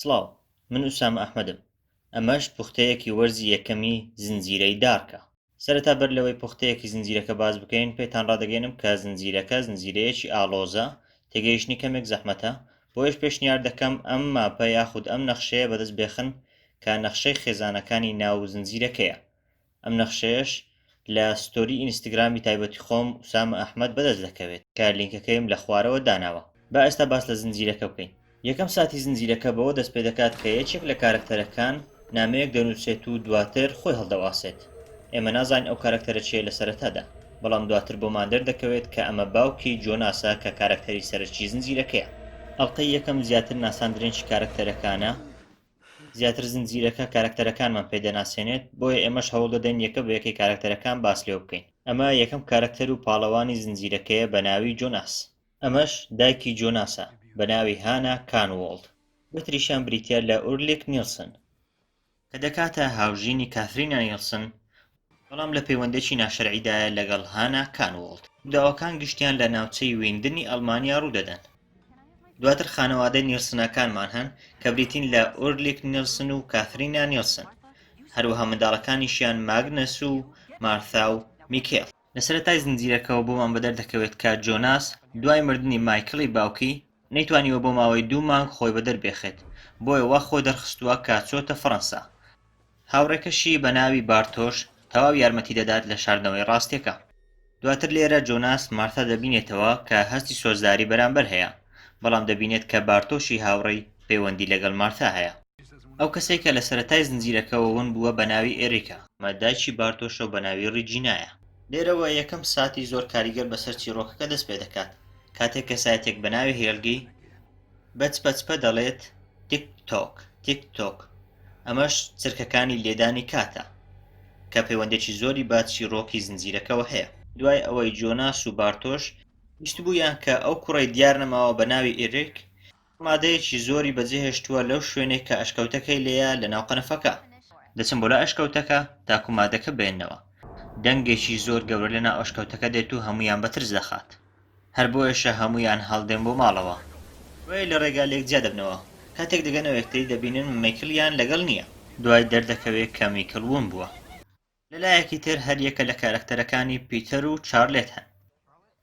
سڵاو من ئوسامە ئەحمەدم ئەمەش پوختەیەکی وەرزی یەکەمی زنجیرەی دارکە. سەرەتا بەر لەوەی پوختەیەکی زنجیرەکە باس بکەین پێتان ڕادەگەیەنم کە زنجیرەکە زنجیرەیەکی ئاڵۆزە تێگەیشتنی کەمێک زەحمەتە بۆیەش پێشنیار دەکەم ئەم ماپە یاخود ئەم نەخشەیە بەدەست بێخن کە نەخشەی خێزانەکانی ناو زنجیرەکەیە ئەم نەخشەیەش لە ستۆری ئینستگرامی تایبەتی خۆم ئوسامە ئەحمەد بەدەست دەکەوێت کە لینکەکەیم لە خوارەوە داناوە. با ئێستا باس لە زنجیرەکە بکەین. یەکەم ساتی زنجیرەکە بەوە دەست پێدەکات کە یەکێک لە کارەکتەرەکان نامەیەک دەنووسێت و دواتر خۆی هەڵدەواسێت. ئێمە نازانین ئەو کارەکتەرە چییە لە سەرەتادا، بەڵام دواتر بۆمان دەردەکەوێت کە ئەمە باوکی جۆناسە کە کارەکتەری سەرەکی زنجیرەکەیە. ئەڵقەی یەکەم زیاتر ناساندرێنی کارەکتەرەکانە. زیاتر زنجیرەکە کارەکتەرەکانمان پێ دەناسێنێت بۆیە ئێمەش هەوڵ دەدەین یەکە بە یەکەی کارەکتەرەکان باس لێو بکەین ئەمە یەکەم کارەکتەر و پاڵەوانی زنجیرەکەیە بە ناوی جۆناس ئەمەش دایکی جۆناسە بە ناوی هانا کانوۆڵد بەتریشیان بریتە لە ئورلیک نیلسن کە دەکاتە هاوژینی کاثرینا نیلسن بەڵام لە پەیوەندێکی ناشەرعیدایە لەگەڵ هانا کانووڵت. رووداوەکان گشتیان لە ناوچەی ویندنی ئەڵمانیا روودەدەن. دواتر خانەوادەی نیڵسنەکانمان هەن کە بریتین لە ئورلیک نیڵسن و کاثرینا نیڵسن، هەروەها منداڵەکانیشیان ماگنەس و مارثا و میکێل. لە سەرەتای زنجیرەکەوە بۆمان بەدەر دەکەوێت کە جۆناس دوای مردنی مایکڵی باوکی، نەیتوانیوە بۆ ماوەی دوو مانگ خۆی بەدەر بێخێت، بۆیە وا خۆ دەرخستووە کە چۆتە فەڕەنسا، هاوڕێکەشی بە ناوی بارتۆش تەواو یارمەتی دەدات لە شاردنەوەی ڕاستیەکە. دواتر لێرە جۆناس مارتا دەبینێتەوە کە هەستی سۆزداری بەرامبەر هەیە، بەڵام دەبینێت کە بارتۆشی هاوڕێی پەیوەندی لەگەڵ مارتا هەیە. ئەو کەسەی کە لە سەرەتای زنجیرەکەوە ون بووە بە ناوی ئێریکا. ئەمە دایکی بارتۆشە و بە ناوی ڕیجینایە. لێرەوە یەکەم ساتی زۆر کاریگەر بەسەر چیڕۆکەکە دەست پێ دەکات، کاتێک کەسایەتێک بە ناوی هێلگی بە چپە چپە دەڵێت، تیک تۆک، تیک تۆک. ئەمەش چرکەکانی لێدانی کاتە، کە پەیوەندێکی زۆری بە چیڕۆکی زنجیرەکەوە هەیە. دوای ئەوەی جۆناس و بارتۆش بیستبوویان کە ئەو کوڕەی دیار نەماوە بە ناوی ئیریک، مادەیەکی زۆری بەجێهێشتووە لەو شوێنەی کە ئەشکەوتەکەی لێیە لە ناو قەنەفەکە. دەچن بۆ لای ئەشکەوتەکە تاکو مادەکە بێننەوە. دەنگێکی زۆر گەورە لە ناو ئەشکەوتەکە دێت و هەموویان بە ترس دەخات. هەر بۆیەشە هەموویان هەڵدێن بۆ ماڵەوە. بۆیە لە ڕێگا لێک جیا دەبنەوە. کاتێک دەگەنەوە یەکتری دەبینن مەیکڵیان لەگەڵ نییە. دوای دەردەکەوێ کە میکڵ وون بووە. لە لایەکی تر هەر یەکە لە کارەکتەرەکانی پیتەر و چارلێت هەن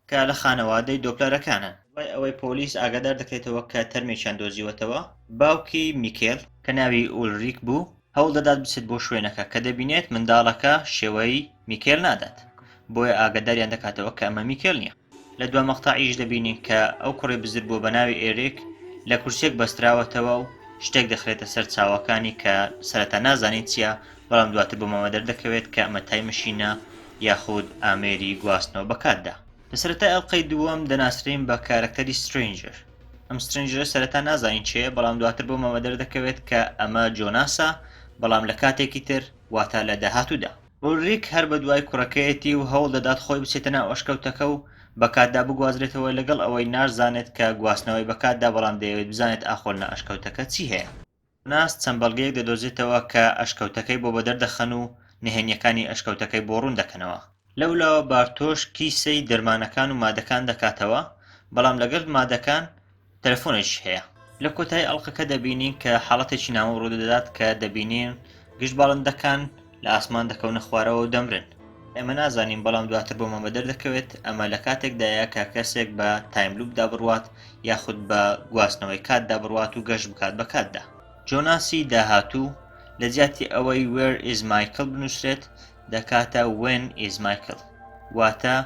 کە لە خانەوادەی دۆپلەرەکانن. دوای ئەوەی پۆلیس ئاگادار دەکرێتەوە کە تەرمێکیان دۆزیوەتەوە، باوکی میکڵ، کە ناوی ئولریک بوو، هەوڵ دەدات بچێت بۆ شوێنەکە کە دەبینێت منداڵەکە شێوەی میکێل نادات بۆیە ئاگداریان دەکاتەوە کە ئەمە میکێل نییە لە دو مەقتەعیش دەبینین کە ئەو کوڕی بزر بووە بە ناوی ئێرێک لە کورسێک بەستراوەتەوە و شتێک دەخرێتە سەر چاوەکانی کە سەرەتا نازانین چییە بەڵام دواتر بۆمەوە دەردەکەوێت کە ئەمە تای مشینە یاخود ئامێری گواستنەوە بەکاتدا لە سەرەتای ئەڵقەی دووەم دەناسرێین بە کارەکتەری سترەینجەر ئەم سترەینجەرە سەرەتا نازانین چێیە بەڵام دواتر بۆمەوە دەردەکەوێت کە ئەمە جۆناسە بەڵام لە کاتێکی تر واتا لە داهاتوودا. ئولریک هەر بە دوای کوڕەکەیەتی و هەوڵ دەدات خۆی بچێتە ناو ئەشکەوتەکە و بە کاتدا بگوازرێتەوە لەگەڵ ئەوەی نازانێت کە گواستنەوەی بە کاتدا بەڵام دەیەوێت بزانێت ئاخۆ لە ئەشکەوتەکە چی هەیە. ناس چەند بەڵگەیەک دەدۆزێتەوە کە ئەشکەوتەکەی بۆ بەدەر دەخەن و نهێنییەکانی ئەشکەوتەکەی بۆ ڕوون دەکەنەوە. لەولاوە بارتۆش کیسەی دەرمانەکان و مادەکان دەکاتەوە، بەڵام لەگەل مادەکان تەلەفۆنێکیش هەیە. لە کۆتایی ئەڵقەکە دەبینین کە حاڵەتێکی نامۆ ڕوودەدات کە دەبینین گشت باڵندەکان لە ئاسمان دەکەونە خوارەوە و دەمرن. ئێمە نازانین بەڵام دواتر بۆمان بەدەر دەکەوێت ئەمە لە کاتێکدایە کە کەسێک بە تایملووپدا بڕوات یاخود بە گواستنەوەی کاتدا بڕوات و گەشت بکات بە کاتدا. جۆناسی داهاتوو، لە جیاتی ئەوەی Where is Michael بنووسرێت، دەکاتە When is Michael. واتە،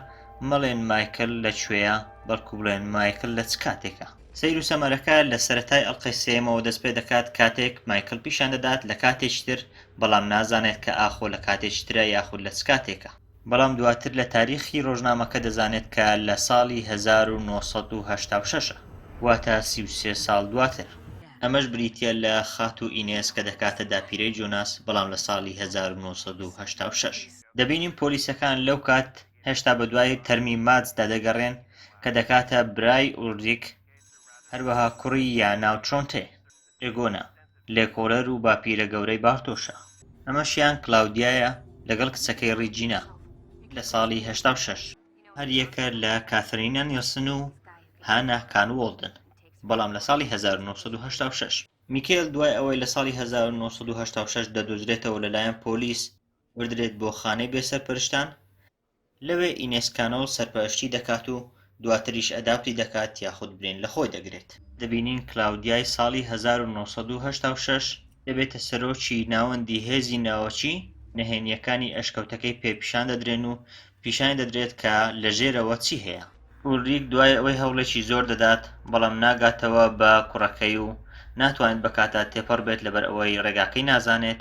مەڵێن مایکل لە کوێیە، بەڵکو بڵێن مایکل لە چ کاتێکە. سەیر و سەمەرەکە لە سەرەتای ئەڵقەی سێیەمەوە دەست پێ دەکات کاتێک مایکل پیشان دەدات لە کاتێکی تر بەڵام نازانێت کە ئاخۆ لە کاتێکی ترە یاخود لە چ کاتێکە. بەڵام دواتر لە تاریخی ڕۆژنامەکە دەزانێت کە لە ساڵی هەزار و نۆ سەد و هەشتا و شەش ە، واتە سی و سێ ساڵ دواتر. ئەمەش بریتییە لە خاتوو ئینێس کە دەکاتە داپیرەی جۆناس، بەڵام لە ساڵی هەزار و نۆ سەد و هەشتا و شەش. دەبینین پۆلیسەکان لەو کات هێشتا بەدوای تەرمی ماتسدا دەگەڕێن کە دەکاتە برای ئولریک، هەروەها کوڕی یانا و ترۆنتێ. ئێگۆنا، لێکۆڵەر و باپیرە گەورەی بارتۆشە. ئەمەشیان کلاودیایە لەگەڵ کچەکەی ڕیجینا لە ساڵی هەشتا و شەش. هەریەکە لە کاثرینا نیلسن و هانا کانوۆڵدن، بەڵام لە ساڵی هەزار و نۆ سەد و هەشتا و شەش. میکێل دوای ئەوەی لە ساڵی هەزار و نۆ سەد و هەشتا و شەش دەدۆزرێتەوە لەلایەن پۆلیس بردرێت بۆ خانەی بێسەرپەرشتان، لەوێ ئینێسکانۆ سەرپەرشتی دەکات و دواتریش ئەداپتی دەکات یاخود برین لە خۆی دەگرێت. دەبینین کلاودیای ساڵی هەزار و نۆ سەد و هەشتا و شەش دەبێتە سەرۆکی ناوەندی هێزی ناوەکی، نهێنییەکانی ئەشکەوتەکەی پێ پیشان دەدرێن و پیشانی دەدرێت کە لە ژێرەوە چی هەیە. ئولریک دوای ئەوەی هەوڵێکی زۆر دەدات، بەڵام ناگاتەوە بە کوڕەکەی و ناتوانێت بە کاتا تێپەڕ بێت لەبەر ئەوەی ڕێگاکەی نازانێت،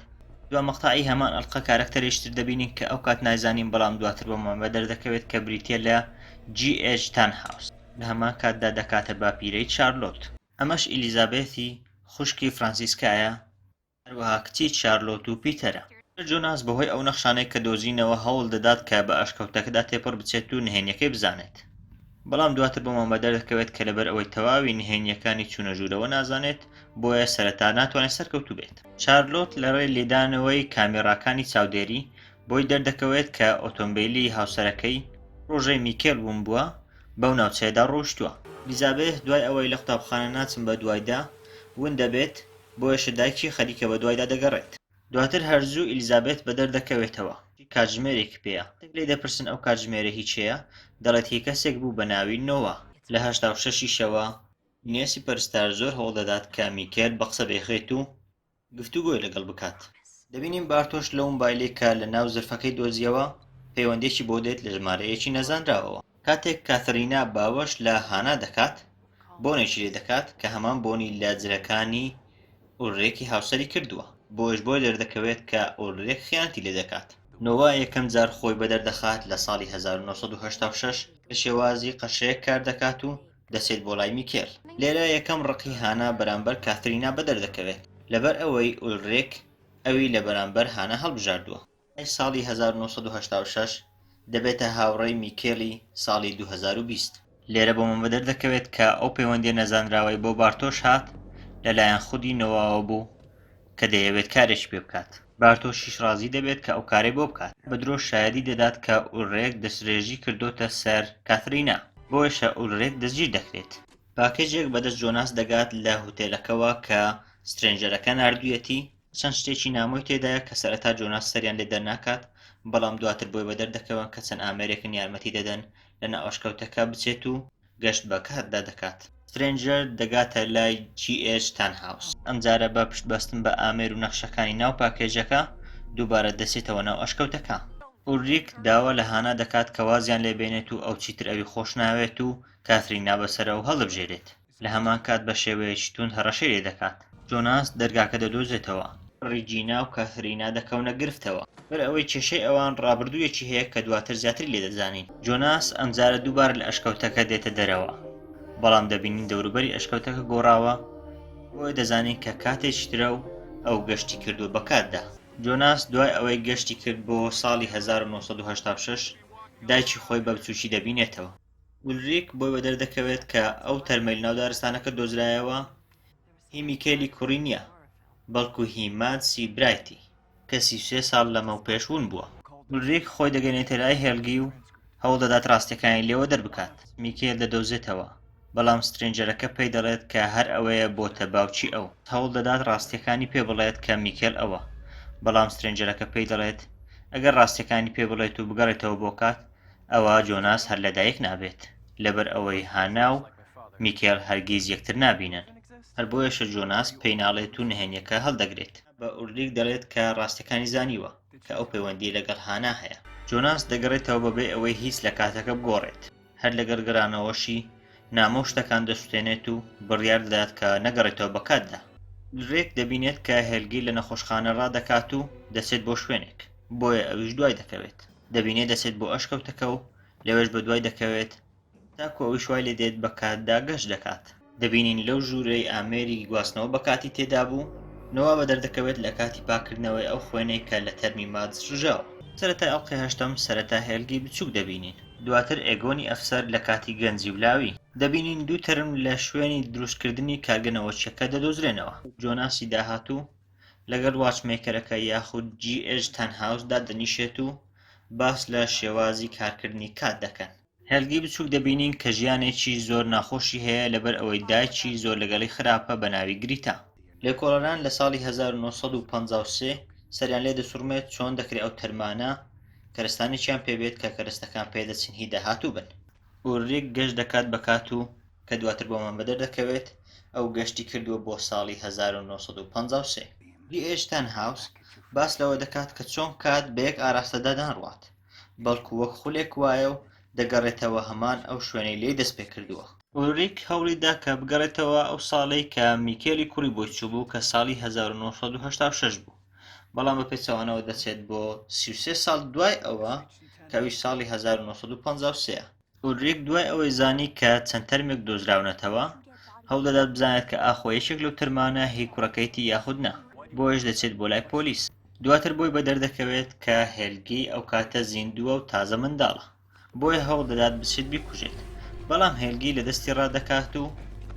دوا مەقتەعی هەمان ئەڵقە کارەکتەرێکی تر دەبینین کە ئەو کات نایزانین بەڵام دواتر بۆمان بە دەردەکەوێت کە بریتیە لە جی ئێج تانهاوس لە هەمان کاتدا دەکاتە باپیرەی چارلۆت. ئەمەش ئیلیزابێثی خوشکی فرانسیسکایە هەروەها کچی چارلۆت و پیتەرە. سەر جۆناس بەهۆی ئەو نەخشانەی کە دۆزینەوە هەوڵ دەدات کە بە ئەشکەوتەکەدا تێپەڕ بچێت و نهێنیەکەی بزانێت، بەڵام دواتر بۆمان بەدەردەکەوێت کە لەبەر ئەوەی تەواوی نهێنیەکانی چوونە ژوورەوە نازانێت، بۆیە سەرەتا ناتوانێت سەرکەوتوو بێت. چارلۆت لەڕێی لێدانەوەی کامێڕاکانی چاودێری، بۆی دەردەکەوێت کە ئۆتۆمبیلی هاوسەرەکەی، پڕۆژەی میکێل ومبوە، بەو ناوچەیەدا ڕۆیشتووە. ئیلیزابێث دوای ئەوەی لە قوتابخانە ناچم بەدوایدا، ون دەبێت، بۆیەشە دایکی خەریکە بەدوایدا دەگەڕێت. دواتر هەرزوو ئیلیزابێت بەدەر دەکەوێتەوە، چی کاتژمێرێک پێیە؟ دەک لێی دەپرسن ئەو کاتژمێرە هی کێیە؟ دەڵێت هی کەسێک بوو بە ناوی نۆوا. لە هەشتا و شەش یشەوە، نێسی پەرستار زۆر هەوڵ دەدات کە میکێل بە قسە بێخرێت و گفتوگۆی لەگەڵ بکات. دەبینین بارتۆش لەو مبایلەی کە لە ناو زرفەکەی دۆزیەوە پەیوەندیەکی بۆ دێت لە ژمارەیەکی نەزانراوەوە. کاتێک کاترینا باوەش لە هانا دەکات، بۆنێکی لێ دەکات کە هەمان بۆنی لە جلەکانی ئولرێکی هاوسەری کردووە، بۆیەش بۆی دەردەکەوێت کە ئولرێک خیانەتی لێ دەکات. نۆوا یەکەم جار خۆی بەدەر دەخات لە ساڵی هەزار و نۆ سەد و هەشتا و شەش، لە شێوازی قەشەیەک کار دەکات و دەچێت بۆ لای میکێل، لێرە یەکەم ڕقی هانا بەرامبەر کاترینا بەدەر دەکەوێت، لەبەر ئەوەی ئولرێک ئەوی لە بەرامبەر هانا هەڵبژاردووە. مای ساڵی هەزار و نۆ سەد و هەشتا و شەش دەبێتە هاوڕێی میکێلی ساڵی دوو هەزار و بیست. لێرە بۆ من بەدەردەکەوێت کە ئەو پەیوەندیە نەزانراوەی بۆ بارتۆش هات لە لایەن خودی نۆواوە بوو کە دەیەوێت کارێکی پێ بکات، بارتۆشیش ڕازی دەبێت کە ئەو کارەی بۆ بکات، بە درۆ شایەدی دەدات کە ئولرێک دەسترێژی کردۆتە سەر کاترینا، بۆیەشە ئولرێک دەستگیر دەکرێت. پاکێجێک بەدەست جۆناس دەگات لە هوتێلەکەوە کە سترێنجەرەکە ناردویەتی، چەند شتێکی نامۆی تێدایە کە سەرەتا جۆناس سەریان لێ دەرناکات، بەڵام دواتر بۆی بەدەردەکەون کە چەند ئامێرێکن یارمەتی دەدەن لە ناو ئەشکەوتەکە بچێت و گەشت بە کاتدا دەکات. سترێنجەر دەگاتە لای جی ئێچ تانهاوس، ئەمجارە بە پشتبەستن بە ئامێر و نەخشەکانی ناو پاکێجەکە دووبارە دەچێتەوە ناو ئەشکەوتەکە. ئولریک داوا لە هانا دەکات کە وازیان لێ بێنێت و ئەو چیتر ئەوی خۆش ناوێت و کاثرین نابەسەرە و هەڵدەبژێرێت. لە هەمان کات بە شێوەیەکی توند هەڕەشەی لێ دەکات. جۆناس دەرگاکە دەدۆزێتەوە. ڕیجینا و کاترینا دەکەونە گرفتەوە. بەر ئەوەی کێشەی ئەوان ڕابردوویەکی هەیە کە دواتر زیاتری لێ دەزانین. جۆناس ئەمجارە دووبارە لە ئەشکەوتەکە دێتە دەرەوە، بەڵام دەبینین دەوروبەری ئەشکەوتەکە گۆڕاوە، بۆیە دەزانین کە کاتێکی ترە و ئەو گەشتی کردووە بە کاتدا. جۆناس دوای ئەوەی گەشتی کرد بۆ ساڵی هەزار و نۆ سەد و هەشتا و شەش، دایکی خۆی بە بچووکی دەبینێتەوە. ئولریک بۆی بە دەردەکەوێت کە ئەو تەرمەی ناو دارستانەکە دۆزرایەوە هی میکێلی کوڕی نییە بەڵکو هی مادسی برایتی کەسی سێ ساڵ لەمە و پێشون بووە ئولریک خۆی دەگەنێتە لای هێلگی و هەوڵ دەدات ڕاستەکانی لێوە دەربکات میکێل دەدۆزێتەوە بەڵام سترنجەرەکە پێی دەڵێت کە هەر ئەوەیە بۆتە باوکی ئەو هەوڵ دەدات ڕاستیەکانی پێ بڵێت کە میکێل ئەوە بەڵام سترنجەرەکە پێی دەڵێت ئەگەر ڕاستیەکانی پێ بڵێت و بگەڕێتەوە بۆ کات ئەوا جۆناس هەر لەدایک نابێت لەبەر ئەوەی هانا و میکێل هەرگیز یەکتر نابینن هەر بۆیەشە جۆناس پێی ناڵێت و نهێنیەکە هەڵدەگرێت بە ئوردیک دەڵێت کە ڕاستەکانی زانیوە کە ئەو پەیوەندی لەگەڵ هانا هەیە جۆناس دەگەڕێتەوە بەبێ ئەوەی هیچ لە کاتەکە بگۆڕێت هەر لەگەر گەرانەوەشی نامۆ شتەکان دەسوتێنێت و بڕیار دەدات کە نەگەڕێتەوە بە کاتدا درێک دەبینێت کە هێلگیر لە نەخۆشخانە ڕادەکات و دەچێت بۆ شوێنێک بۆیە ئەویش دوای دەکەوێت دەبینێت دەچێت بۆ ئەشکەوتەکە و لەوێش بە دوای دەکەوێت تاکو ئەویش وای لێ دێت بە کاتدا گەشت دەکات دەبینین لەو ژوورەی ئامێری گواستنەوە بە کاتی تێدا بوو نەوا بە دەردەکەوێت لە کاتی پاکردنەوەی ئەو خوێنەی کە لە تەرمی مادز ژژاوە سەرەتای ئەڵقی هەشتەم سەرەتا هێلگی بچووک دەبینین دواتر ئێگۆنی ئەفسەر لە کاتی گەنجی و لاوی دەبینین دوو تەرم لە شوێنی دروستکردنی کارگە نەوەکیەکە دەدۆزرێنەوە جۆناسی داهاتوو لەگەڵ واچمەیکەرەکە یاخود جی ئێج تەن هاوس دادەنیشێت و باس لە شێوازی کارکردنی کات دەکەن. هێلگەی بچووک دەبینین کە ژیانێکی زۆر ناخۆشی هەیە لەبەر ئەوەی دایکی زۆر لەگەڵی خراپە بە ناوی گریتا. لێکۆڵەران لە ساڵی هەزار و نۆ سەد و پەنجا و سێ سەریان لێ دەسوڕمێت چۆن دەکرێ ئەو تەرمانە کەرستانێکیان پێ بێت کە کەرستەکان پێ دەچن هی داهاتوو بن. ئوریک گەشت دەکات بە کات و کە دواتر بۆمان بەدەر دەکەوێت ئەو گەشتی کردووە بۆ ساڵی 1953. دی ئێج تەنهاوس باس لەوە دەکات کە چۆن کات بە یەک ئاراستەدا ناڕوات، بەڵکو وەک خولێک وایە و دەگەڕێتەوە هەمان ئەو شوێنەی لێی دەستپێکردووە. ئوریک هەوڵی دا کە بگەڕێتەوە ئەو ساڵەی کە میکێلی کوڕی بۆی چووبوو کە ساڵی 1986 بوو. بەڵام بە پێچەوانەوە دەچێت بۆ سیسێ ساڵ دوای ئەوە کەوی ساڵی 1953 ئۆلریک دوای ئەوەی زانی کە چەند تەرمێک دۆزراونەتەوە هەوڵدەدات بزانێت کە ئاخۆ یەکێک لەو تەرمانە هی کوڕەکەیتی یاخودنا بۆیش دەچێت بۆ لای پۆلیس دواتر بۆی بە دەردەکەوێت کە هێلگی ئەو کاتە زیندووە و تازە منداڵە بۆیە هەوڵدەدات بچێت بیکوژێت، بەڵام هێلگی لە دەستی ڕادەکات و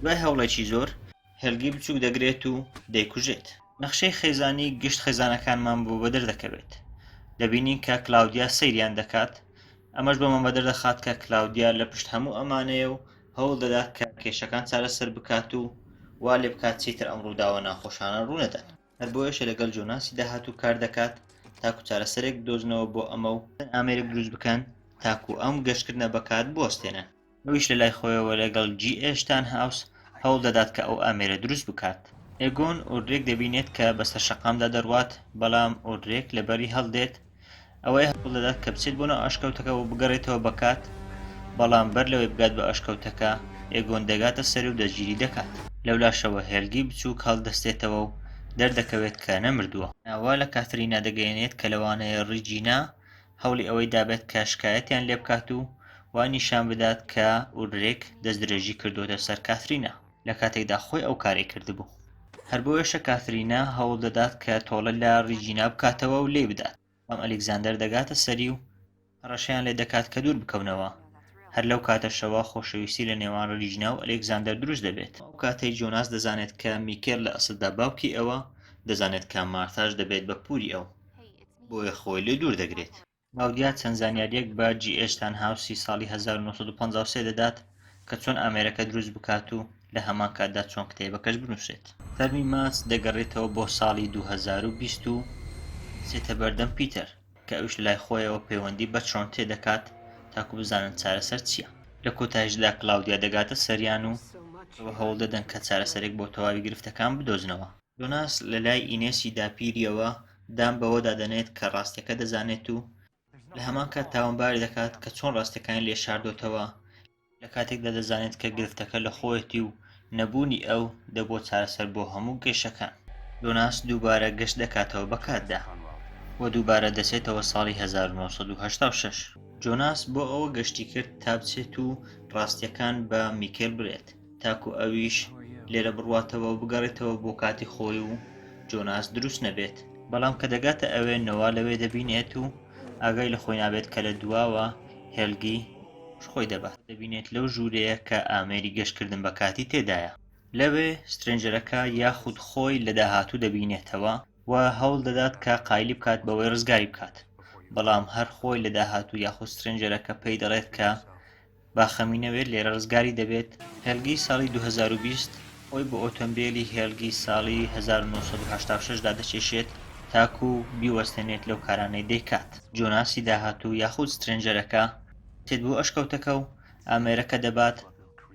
دوای هەوڵێکی زۆر هێلگی بچووک دەگرێت و دەیکوژێت. نەخشەی خێزانی گشت خێزانەکانمان بۆ بەدەر دەکەوێت. دەبینین کە کلاودیا سەیریان دەکات، ئەمەش بەمە بەدەر دەخات کە کلاودیا لە پشت هەموو ئەمانەیە و هەوڵ دەدات کە کێشەکان چارەسەر بکات و وا لێ بکات چیتر ئەم ڕووداوە ناخۆشانە ڕوو نەدەن. هەر بۆیەشە لەگەڵ جۆناسی داهاتوو کار دەکات تاکو چارەسەرێک بدۆزنەوە بۆ ئەمە و ئامێرێک دروست بکەن تاکو ئەم گەشتکردنە بەکات بوەستێنن. ئەویش لە لای خۆیەوە لەگەڵ جی ئێ شتانهاوس هەوڵ دەدات کە ئەو ئامێرە دروست بکات. ئێگۆن ئۆدرێک دەبینێت کە بەسەر شەقامدا دەڕوات، بەڵام ئۆدرێک لەبەری هەڵدێت، ئەوەی هەوڵ دەدات کە بچێت بۆ ناو ئەشکەوتەکە و بگەڕێتەوە بەکات بەڵام بەر لەوەی بگات بە ئەشکەوتەکە ئێگۆن دەگاتە سەر و دەستگیری دەکات لەولاشەوە هێلگی بچووک هەڵدەستێتەوە و دەردەکەوێت کە نەمردووە. ئەوە لە کاترینا دەگەیەنێت کە لەوانەیە ڕیجینا هەوڵی ئەوەی دابێت کە شکایەتیان لێبکات و وای نیشان بدات کە ئولریک دەستدرێژی کردووەتە سەر کاترینا. لە کاتێکدا خۆی ئەو کارەی کردبوو. هەر بۆیەشە کاترینا هەوڵ دەدات کە تۆڵە لە ڕیجینا بکاتەوە و لێی بدات، بەڵام ئەلیکزاندەر دەگاتە سەری و هەڕەشەیان لێ دەکات کە دوور بکەونەوە. هەر لەو کاتەشەوە خۆشەویستی لە نێوان ڕیجینا و ئەلیکزاندەر دروست دەبێت. ئەو کاتەی جۆناس دەزانێت کە میکێل لە ئەسڵدا باوکی ئەوە، دەزانێت کە مارتاش دەبێت بە پووری ئەو، بۆیە خۆی لێ دوور دەگرێت. باودیا چەند زانیارییەک بە جی ئێچ تانهاوسی ساڵی 1953 دەدات کە چۆن ئامێرەکە دروست بکات و لە هەمان کاتدا چۆن کتێبەکەش بنووسێت. تەرمی ماس دەگەڕێتەوە بۆ ساڵی 2020 و دەچێتە بەردەم پیتەر، کە ئەویش لە لای خۆیەوە پەیوەندی بە چۆنتێ دەکات تاکو بزانن چارەسەر چییە. لە کۆتایشدا کلاودیا دەگاتە سەریان و ئەوە هەوڵ دەدەن کە چارەسەرێک بۆ تەواوی گرفتەکان بدۆزنەوە. جۆناس لە لای ئینێسی داپیرییەوە دان بەوەدا دەنێت کە ڕاستیەکە دەزانێت و لە هەمان کات تاوانباری دەکات کە چۆن ڕاستەکانی لێ شاردۆتەوە لە کاتێکدا دەزانێت کە گرفتەکە لە خۆیەتی و نەبوونی ئەو دەبووە چارەسەر بۆ هەموو گەشەکان جۆناس دووبارە گەشت دەکاتەوە بە کاتدا و دووبارە دەچێتەوە ساڵی 1986 جۆناس بۆ ئەوە گەشتی کرد تا بچێت و ڕاستیەکان بە میکێل برێت تاکو ئەویش لێرە بڕواتەوە و بگەڕێتەوە بۆ کاتی خۆی و جۆناس دروست نەبێت بەڵام کە دەگاتە ئەوێ نەوە لەوێ دەبینێت و ئاگای لە خۆی نابێت کە لە دواوە هێلگی خۆی دەبات دەبینێت لەو ژوورەیە کە ئامێری گەشتکردن بە کاتی تێدایە لەوێ سترنجەرەکە یاخود خۆی لە داهاتوو دەبینێتەوە و هەوڵ دەدات کە قایلی بکات بەوەی ڕزگاری بکات بەڵام هەر خۆی لە داهاتوو یاخود سترنجەرەکە پێی دەڵێت کە با خەمی نەوێت لێرە ڕزگاری دەبێت. هێلگی ساڵی دوو هەزار و بیست خۆی بە ئۆتۆمبێلی هێلگی ساڵی هەزار و نۆ سەد و هەشتا و شەش دا دەچێشێت تاکو بیوەستێنێت لەو کارانەی دەیکات. جۆناسی داهاتوو یاخود سترێنجەرەکە دێت بۆ ئەشکەوتەکە و ئامێرەکە دەبات،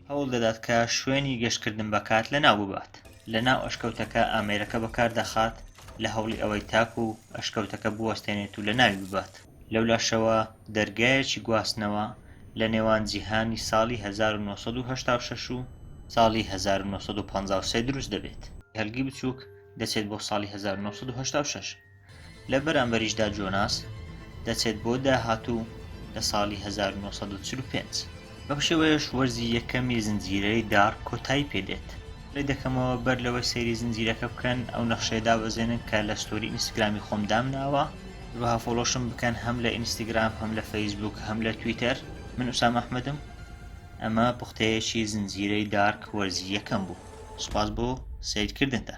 هەوڵ دەدات کە شوێنی گەشتکردن بە کات لەناو ببات، لەناو ئەشکەوتەکە ئامێرەکە بەکاردەخات لە هەوڵی ئەوەی تاکو ئەشکەوتەکە بوەستێنێت و لەناوی ببات. لەولاشەوە دەرگایەکی گواستنەوە لە نێوان جیهانی ساڵی 1986 و ساڵی 1953 دروست دەبێت، کەلکی بچووک دەچێت بۆ ساڵی 1986، لە بەرامبەریشدا جۆناس دەچێت بۆ داهاتوو لە ساڵی 1945. بەم شێوەیەش وەرزی یەکەمی زنجیرەی دارک کۆتایی پێدێت. پلەی دەکەمەوە بەر لەوەی سەیری زنجیرەکە بکەن ئەو نەخشەیە دابەزێنن کە لە ستۆری ئینستگرامی خۆم دامناوە هەروەها فۆڵۆشم بکەن هەم لە ئینستگرام هەم لە فەیسبوک هەم لە تویتەر من ئوسام ئەحمدم ئەمە پوختەیەکی زنجیرەی دارک وەرزی یەکەم بوو سوپاس بۆ سیرکردنتان